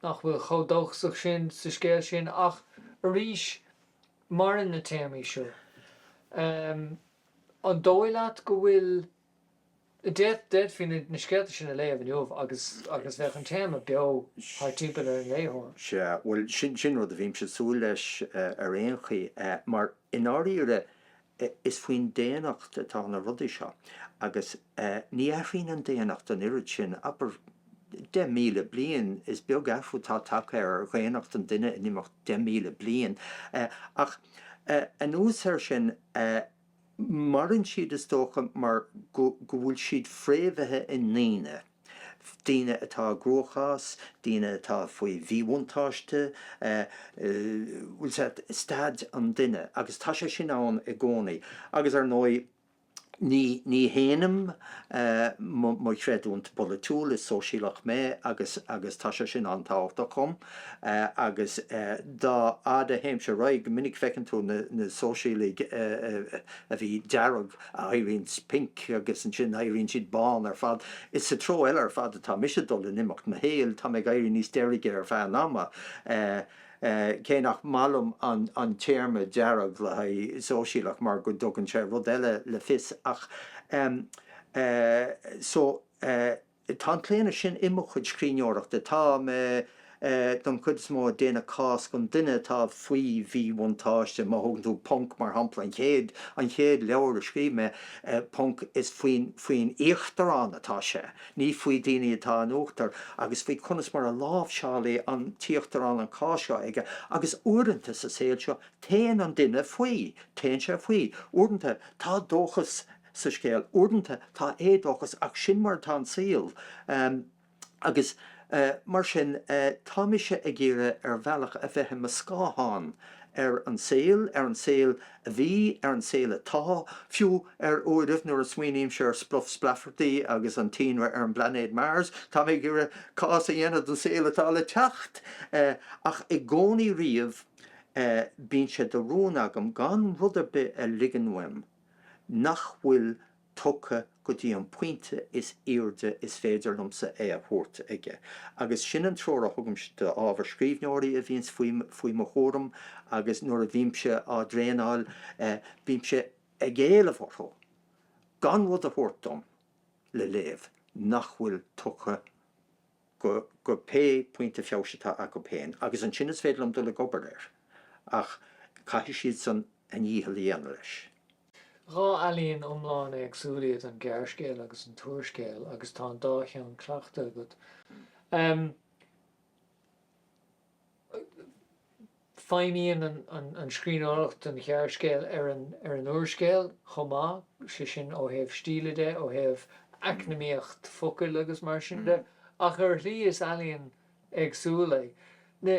nach bhfuil chomh dóchasach sin sa scéal sin ach arís maireann na téamaí seo. An dóigh leat go bhfuil, d'fhéadfaí na scéalta sin a léamh inniu agus bheadh an téama beo thar timpeall ar an léitheoir? Sea, bhuel sin rud a bhímse ag súil leis ar aon chaoi, mar i ndáiríre Eh, is faoin daonnacht atá na rudaí seo. Agus, eh, ní athraíonn an daonnacht an oiread sin, abair, deich míle bliain, is beag athrú atá tagtha ar dhaonnacht an duine in imeacht deich míle bliain. Eh, ach, eh, anuas air sin, eh, maireann siad, is dócha, mar go, go bhfuil siad fréamhaithe i ndaoine. daoine atá i gcruachás, daoine atá faoi mhíbhuntáiste, staid an duine agus tá sé sin ann i gcónaí agus ar ndóigh ní shéanaim mo chreidiúintí polaitiúla, is sóisialach mé agus tá sé sin an-tábhachtach dhom agus dá fhaid a théimse ar aghaidh go minic feiceann tú na sóisialaigh a bhí dearg, Éiríonn siad pinc agus ansin éiríonn siad bán ar fad. Is sa treo eile ar fad atá mise ag dul in imeacht mo shaoil, tá mé ag éirí níos deirge ar feadh an ama, cé nach maith liom an téarma 'dearg' le haghaidh sóisialach mar go dtugann sé rud eile le fios, ach eh. so eh. Tá an claonadh sin i mo chuid scríbhneoireachta, tá mé, don chuid is mó, ag déanamh cás don duine atá faoi mhíbhuntáiste. Má thógann tú Punk, mar shampla, an chéad, an chéad leabhar a scríobh mé, Punk, is faoin, faoin íochtarán atá sé, ní faoi dhaoine atá in uachtar, agus faoi conas mar a láimhseálann an t-íochtarán an cás seo aige, agus uaireanta sa saol seo, téann an duine faoi, téann sé faoi, uaireanta, tá dóchas sa scéal. Uaireanta tá éadóchas ach sin mar atá an saol agus mar sin tá mise ag iarraidh ar bhealach a bheith i mo scáthán ar an saol, ar an saol a bhí, ar an saol atá, fiú ar uairibh nuair a smaoinímse ar Spluff Splaifeartaí agus an t-ionradh ar an bplainéad Mars tá mé ag iarraidh cás a dhéanamh don saol atá le teacht ach i gcónaí riamh bíonn sé de rún agam gan rud ar bith a ligean uaim. nach bhfuil tugtha go dtí an pointe is airde is féidir liomsa é a thabhairt aige. Agus sin an treoir a thugaimse d'ábhar scríbhneoirí a bhíonns faoi mo chúram agus nuair a bhímse á dtraenáil, bímse ag éileamh orthu gan rud a thabhairt dom le léamh nach bhfuil tugtha go, go pé ar bith pointe feabhais atá acub féin agus ansin is féidir liom dul ag obair air ach caithfidh siadsan a ndícheall a dhéanamh leis. Dhá ealaín iomlán éagsúil iad an gearrscéal agus an t-úrscéal agus tá an dá cheann cleachta agat. Feidhmíonn an scríbhneoireacht an ghearrscéal ar an úrscéal chomh maith, sé sin ó thaobh stíle de, ó thaobh eacnamaíocht focail agus mar sin de, ach ar shlí is ealaíon éagsúil é. Na,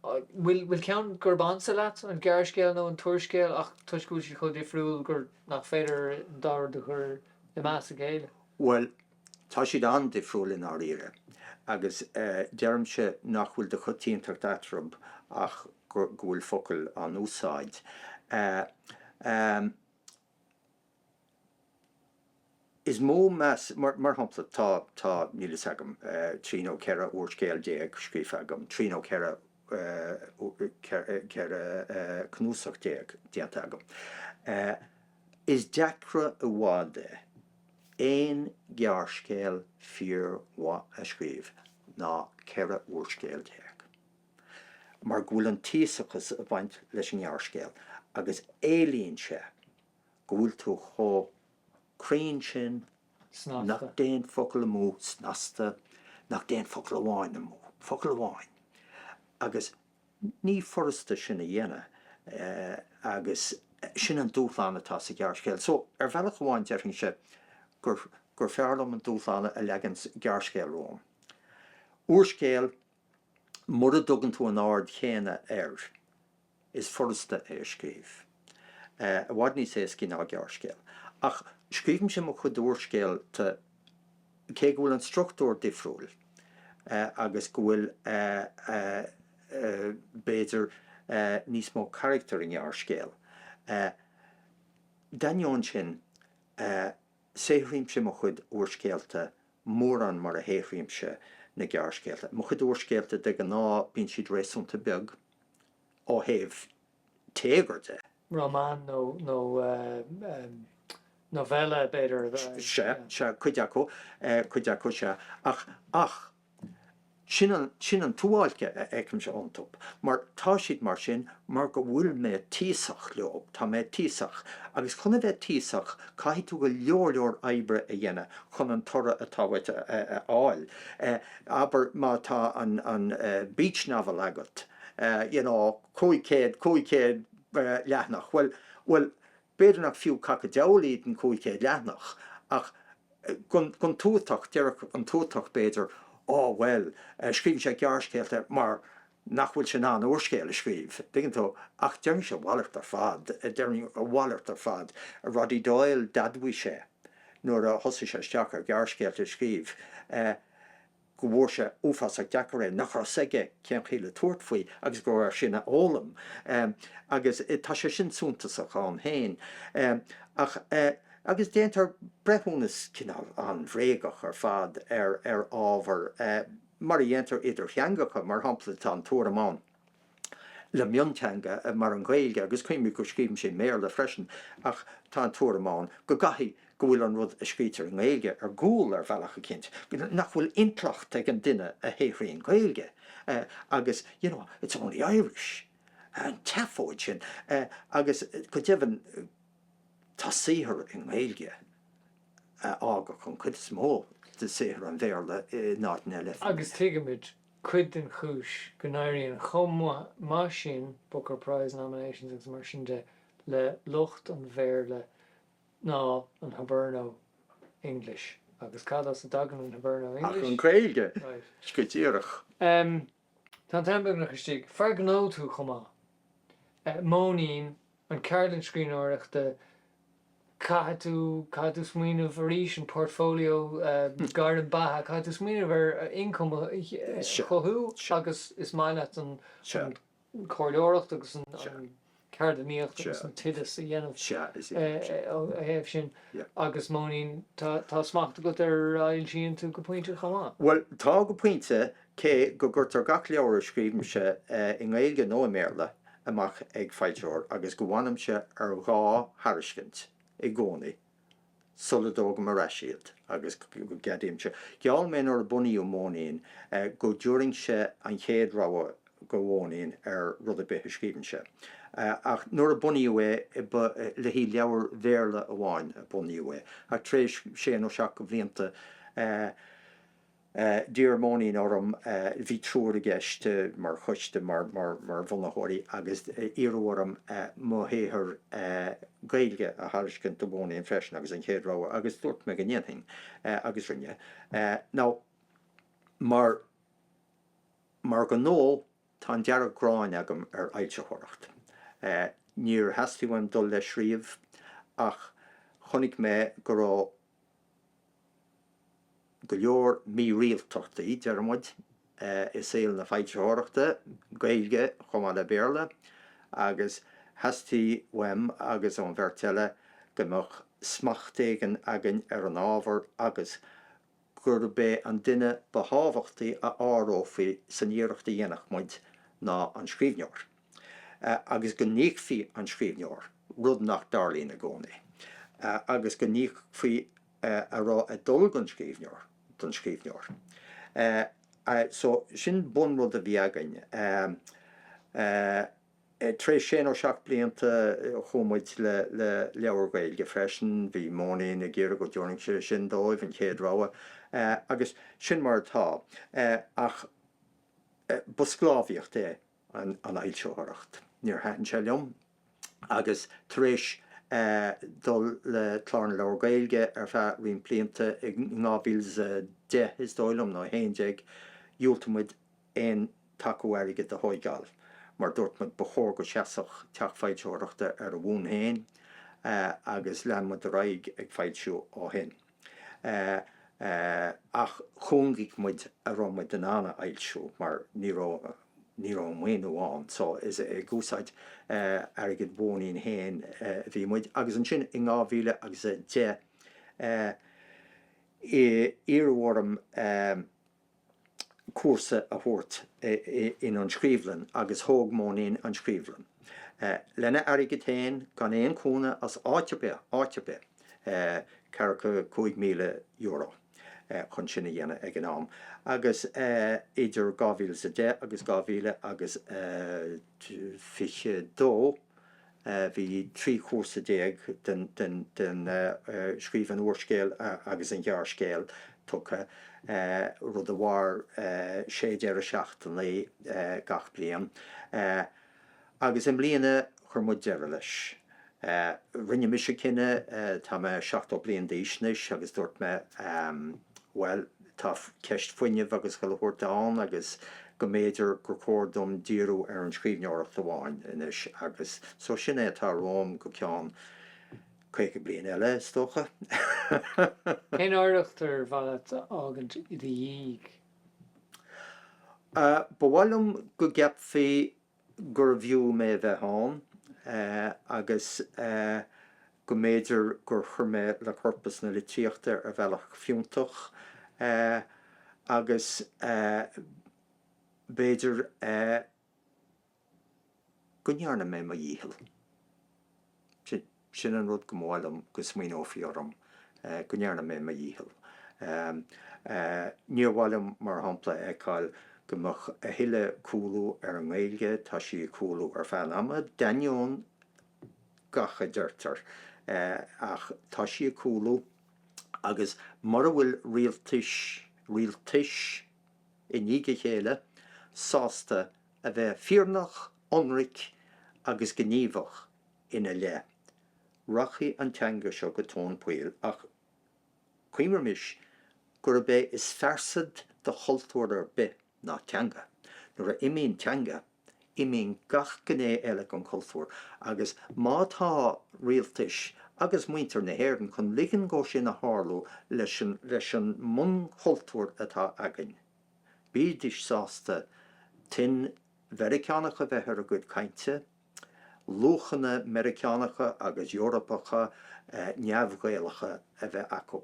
bhfuil ceann gurb ansa leat, an gearrscéal nó an t-úrscéal, nach toisc go bhfuil siad chomh difriúil gur, nach féidir an dá rud a chur i meas a chéile? Bhuel, Tá siad an-difriúil i ndáiríre, agus deirimse nach bhfuil de choitiantacht eatarthu ach go bhfuil focail in úsáid, 's mo mheas. Mar shampla, tá, tá, níl fhios agam, trí nó ceithre úrscéal déag scríofa agam, trí nó ceith, ceithre cnuasach déag déanta agam. Is deacra i bhfad é. aon ghearrscéal fíormhaith a scríobh, ná ceithre úrscéal déag, mar go bhfuil an tíosachas ag baint leis an ngearrscéal, agus éilíonn sé go bhfuil tú chomh cruinn sin nach dtéann focal amú, snasta, nach dtéann focal amháin amú, focal amháin, agus. Ní furasta sin a dhéanamh agus sin an dúshlán atá sa ghearrscéal. So, ar bhealach amháin déarfainnse gur gur fearr liom an dúshlán a leagann gearrscéal romham. Úrscéal, mura dtugann tú an aird chéanna air, is furasta é a scríobh. I bhfad níos éascaí ná gearrscéal. Ach scríobhaimse mo chuid úrscéalta, cé go bhfuil an struchtúr difriúil agus go bhfuil, b'fhéidir, níos mó carachtar ná i ngearrscéal, d'ainneoin sin, saothraímse mo chuid úrscéalta mórán mar a shaothraímse na gearrscéalta. Mo chuid úrscéalta, de ghnáth, bíonn siad réasúnta beag ó thaobh. téagar de. Román nó novella, b'fhéidir. Sea, sea, cuid acu, cuid acu, sea. Ach, ach. sin, sin an tsuáilce a fheicimse iontu. Mar tá siad mar sin mar go bhfuil mé tíosach leob, tá mé tíosach. Agus chun a bheith tíosach caithfidh tú go leor leor oibre a dhéanamh chun an toradh atá uait a fháil. Abair má tá an, an beach novel agat, you know, Cúig chéad, cúig chéad leathnach, bhuel, bhuel, b'fhéidir nach fiú caca deabhal iad an cúig chéad leathnach, ach don tuatach, déarfadh an tuatach, b'fhéidir, Á, bhuel, scríobhann sé gearrscéalta mar nach bhfuil sé in ann úrscéal a scríobh, dtuigeann tú, ach déarfainnse a mhalairt ar fad, déarfainn a mhalairt ar fad. Roddy Doyle, d'admhaigh sé, nuair a thosaigh sé isteach ar ghearrscéalta a scríobh, go bhfuair sé uafásach deacair é, nach raibh 's aige cén chaoi le tabhairt faoi agus go raibh air sin a fhoghlaim agus tá sé sin suntasach ann féin ach, agus déantar breithiúnas cineál an-bhréagach ar fad ar ábhar mar a dhéantar idir theangacha, mar shampla tá an tuairim ann. le mionteanga mar an Ghaeilge, agus cuimhnigh go scríobhaimse i mBéarla freisin, ach tá an tuairim ann go gcaithfidh go bhfuil an rud a scríobhtar i nGaeilge ar gcúl ar bhealach eicínt, nach bhfuil intleacht ag an duine a shaothraíonn Gaeilge agus you know, it's only Irish, an tseafóid sin agus go deimhin tá saothar i nGaeilge a d'fhágfadh an chuid is mó de shaothar an Bhéarla in áit na leathphingine. Agus tuigimid cuid den chúis go n-éiríonn chomh maith sin, Booker Prize nominations agus mar sin de, le lucht an Bhéarla ná an Hiberno English. Agus cad as a dtagann an Hiberno English? Ach an Ghaeilge! Sceith díreach. Tá an t-am beagnach istigh. Fear gnó tú chomh maith. Móinín an cheardlann scríbhneoireachta, caithfidh tú, caithfidh tú smaoineamh, arís an portfolio, gairm beatha, caithfidh tú smaoineamh ar income a chothú agus is maith leat an chomhairleoireacht agus an cheardlannaíocht agus an t-oideas a dhéanamh ó thaobh sin agus Móinín, tá smacht agat ar a fhoilsíonn tú go pointe chomh maith. Bhuel, tá go pointe, Cé go gcuirtear gach leabhar a scríobhaimse, i nGaeilge nó i mBéarla, amach ag foilsitheoir agus go bhfanaimse ar dhá thairiscint i gcónaí sula dtógaim ar ais iad agus go gceadaímse, gheall mé nuair a bunaíodh Móinín, go dtabharfainnse an chéad rogha do Mhóinín ar rud ar bith a scríobhfainnse. Ach nuair a bunaíodh é, ba le haghaidh leabhar Bhéarla amháin a bunaíodh é, ach tar éis sé nó seacht blianta, D'iarr Móinín orm, bhí triúr i gceist mar choiste, mar bhunaitheoirí, agus iarradh orm mo shaothar Gaeilge a thairiscint do Mhóinín freisin agus an chéad rogha agus dúirt mé go ndéanfainn agus rinne. Now, mar mar ghnó tá an dearg-ghráin agam ar fhoilsitheoireacht. Níor theastaigh uaim dul leis riamh ach chonaic mé go raibh. go leor mírialtachtaí, deir muid, i saol na foilsitheoireachta Gaeilge chomh maith le Béarla agus theastaigh uaim agus ón bheirt eile go mbeadh smacht éigin againn ar an ábhar agus gurb é an duine ba thábhachtaí a áireofaí san iarracht a dhéanfadh muid ná an scríbhneoir. agus go n-íocfaí an scríbhneoir, rud nach dtarlaíonn i gcónaí, agus go n-íocfaí a raibh ag dul don scríbhneoir don scríbhneoir. So, sin bunrud a bhí againn. Tar éis sé nó seacht blianta chuaigh muid le leabhar Gaeilge freisin, bhí Móinín ag iarraidh go dtabharfainnse sin dóibh, an chéad rogha, agus sin mar atá. Ach ba sclábhaíocht é. an fhoilsitheoireacht. Níor thaitin sé liom agus tar éis dul le Clár na Leabhar Gaeilge ar feadh roinnt blianta, i 2010 is dóigh liom, nó 11, dhiúltaigh muid aon taca airgid a thóigeáil mar dúirt muid ba chóir go seasfadh teach foilsitheoireachta ar a bhonn féin agus lean muid ar aghaidh ag foilsiú ó shin. ach chúngaigh muid a raibh muid in ann a fhoilsiú mar ní raibh ní raibh an maoiniú ann so is ag úsáid airgead Mhóinín féin a bhí muid agus ansin i 2000 agus a deich iarradh orm a cúrsa a thabhairt in An Scríobhlann agus thóg Móinín An Scríobhlann lena airgead féin gan aon chúnamh as áit ar bith, áit ar bith, ceathracha cúig míle euro chun sin a dhéanamh ag an am agus idir dhá mhíle is a deich agus dhá mhíle agus fiche dó, Bhí trí chúrsa déag den scríobh an úrscéil agus an ghearrscéil tugtha, rud a mhair sé deireadh seachtainí gach bliain, agus i mbliana chuir muid deireadh leis. Rinne mise cinneadh, tá mé seachtó bliain d'aois anois, agus dúirt mé, bhuel, Tá ceist fuinnimh agus chuile shórt ann agus go mb'fhéidir gur chóir dom díriú ar an scríbhneoireacht amháin anois agus so sin é atá romham go ceann caoga bliain eile, is dócha. Cén oidhreacht ar mhaith leat a fhágaint i do dhiaidh? Ba mhaith liom go gceapfaí gurbh fhiú mé a bheith ann agus go mb'fhéidir gur chuir mé le corpas na litríochta ar bhealach fiúntach agus b'fhéidir go ndearna mé mo dhícheall. Sin an rud go mb'áil liom go smaoineofaí orm, go ndearna mé mo dhícheall. Níor mhaith liom, mar shampla, a fheiceáil go mbeadh a thuilleadh cúlú ar an nGaeilge, tá sí ag cúlú ar feadh an ama, d'ainneoin gach a deirtear, ach tá sí ag cúlú, agus mura bhfuil rialtais, rialtais i ndiaidh a chéile, sásta a bheith fírinneach, ionraic agus gníomhach, ina leith, rachaidh an teanga seo go tóin poill, ach cuimhnímis gurb é is fearsad do chultúr ar bith ná teanga. Nuair a imíonn teanga, imíonn gach gné eile den chultúr, agus má tá rialtais agus muintir na hÉireann chun ligean dhó sin a tharlú leis an mbunchultúr atá againn, bídís sásta tuin Mheiriceánach a bheith ar a gcuid cainte, luachanna Meiriceánacha agus Eorpacha neamh-Ghaelacha a bheith acu.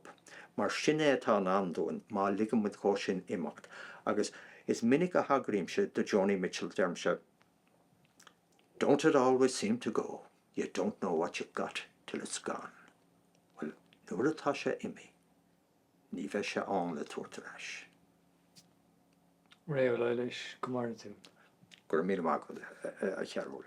Mar sin é atá i ndán dúinn má ligeann muid dhó sin imeacht. Agus is minic a thagraímse do Joni Mitchell, deirimse, Don't it always seem to go, you don't know what you've got till it's gone. Bhuel, nuair atá sé imithe. Ní bheidh sé ann le tabhairt ar ais. Ré Ó Laighléis, go maire tú. Go raibh míle maith agat, a Chearbhaill.